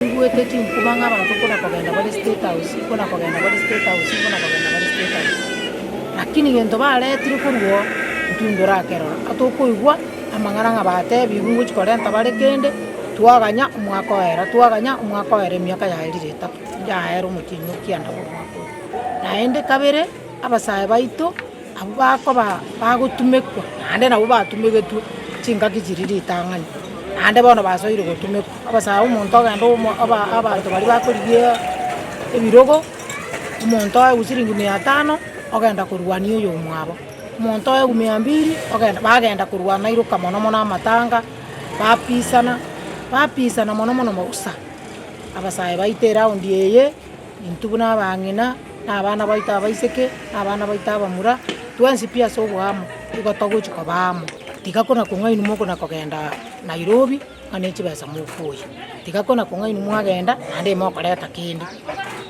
Nigwete chimfuba ng'a abanto ikona kogenda bare State House, ikona kogenda bare State House, ikona kogenda bare State House. Lakini egento bareetirwe korwa oo ntintore akerore. Aa tokoigwa amang'ana ng'a batebiigwe ngochia korenta bare kende, twaganya omwaka oera, twaganya omwaka oera emiaka yaerire etato, yaera omochie inwe kianda korwa omwaka oria. Naende kabere abasae baito. Abwo bakoba bagotumekwa naende nabwo batumegetwe chingaki chiria ritang'ani, naende bono basoire gotumekwa. Obosae omonto ogende abanto baria bakorigia ebirogo, omonto oegwe chiringi mia tano ogenda korwania oyomwabo, omonto oegwe mia mbiri ogenda bagenda korwana iroka mono mono amatanga, bapisana, bapisana mono mono mogusa, abasae baita eraundi eye. Intwe buna abang'ina, na abana baito abaiseke, na abana baito abamura, twensi pi ase oboamo, nigo togochia koba amo. Tiga kona-kong'a inwe mokona kogenda Nairobi ng'a ne chibesa mofuye, tiga kona-kong'a inwe mwagenda naende mokoreta kende.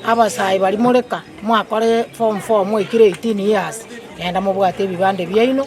Abasae baria more ka, mwakore form four mwaikire eighteen years, genda mobwate ebibande biaino.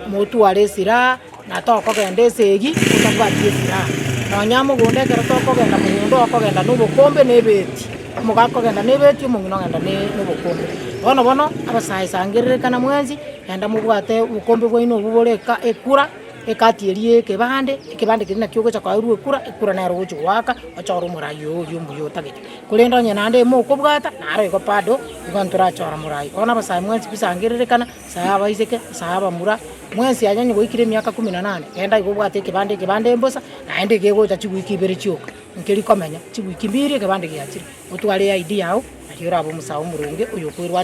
Motware esiraha, na tokogenda esegi totabwati esiraha. Nonya mogondo ekero tokogenda mogondo, okogenda nobokombe na ebeeti, omoga akogenda na ebeeti, omong'ina ogenda nobokombe. Bono bono, abasae sangererekana mwensi, genda mobwate obokombe bwaino obwo bore ekura, ekati eria ya ekebande, ekebande keria naki ogocha koeirwa ekura, ekura nero ogochi goaka, ochore omorai oyo oria omuya otagete. Korende onye naende mokobwata, naro igo bado, igo ntorachora morai. Bono abasae mwensi bisangererekana. Sahaba Iseke, Sahaba mura, mwensi anyanye goikera emiaka ikomi na nane, genda iga obwate ekebande, ekebande embosa, naende iga egocha chiwiiki ibere chioka, nkeri komenya, chiwiiki mbiri ekebande giachire, otware eID yao, nario orabe omosae omoronge, oyo okoerwanera.